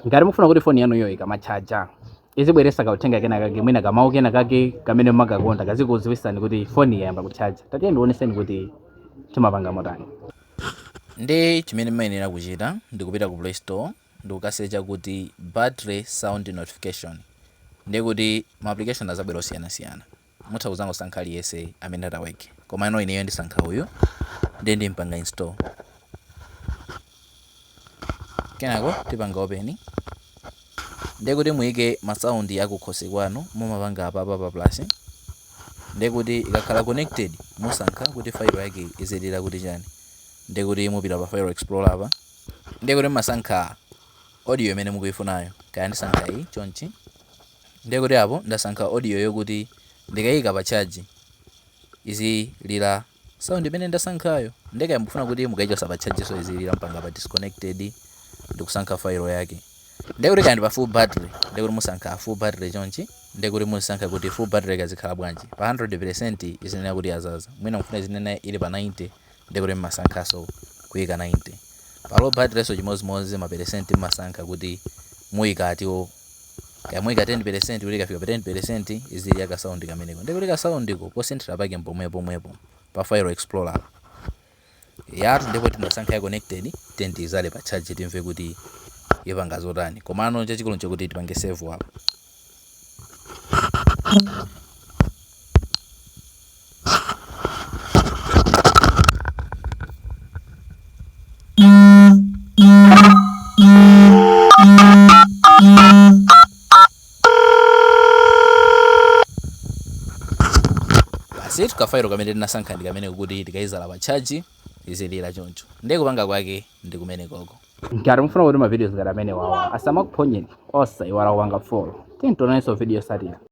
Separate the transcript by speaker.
Speaker 1: ngati mufuna kuti foni yanuyo ikamatchaja izibweresa kauthenga kena kake mwina kamawu kena kake kamene mumakakonda kazikudziwitsani kuti foni yayamba kutchaja tatiye ndioneseni kuti timapanga motani ndi
Speaker 2: chimene mumayenera kuchita ndi kupita ku play store ndi kukasecha kuti battery sound notification ndi kuti ma application azabwera osiyanasiyana mutha kuzangosankha aliyese amene ataweke komano ineyo ndisankha uyu ndiye ndimpanga install kenako tipanga open ndiye kuti muyike masaundi akukhosi kwanu mumapanga apa pa plus ndiye kuti ikakhala connected musankha kuti file yake izilira kuti chani ndiye kuti mupita pa file explorer apa ndiye kuti mumasankha audio imene mukuifunayo kaya ndisankha iyi chonchi Ndiye kuti apo ndasankha audio yokuti ndikaika pa charge izilira sound imene ndasankhayo. Ndiye kaya mukufuna kuti mukaichotsa pa chargeso izilira mupanga pa disconnected ndikusankha file yake. Ndiye kuti kaya ndi pa full battery, ndiye kuti musankha full battery chonchi. Ndiye kuti muzisankha kuti full battery kazikhala bwanji. Pa 100% izinena kuti yazaza. Mwina mukufuna izinena ili pa 90 ndiye kuti mmasankhaso kuika 90 pa low batteryso chimodzimodzi ma peresenti mmasankha kuti muika atiwo kaya muika 10% kuti ikafika pa 10% izilira ka sound kameneko ndiye kuti ka soundiko posinthira pake mpomwepomwepo pa file explorer yathu ndipo tinasankha ya connected then tiyizale pa charge timve kuti ipanga zotani komano chachikulu nchakuti tipange save apo basi tu kafairo kamene tinasankha ndi kamene kuti tikayizala pa tchaji izilira choncho ndiye kupanga kwake ndi kumenekoko ngati mufuna
Speaker 1: kuti mavidios ngati amenewawa asamakuphonyeni osaiwala kupanga follow tionanso video yosatira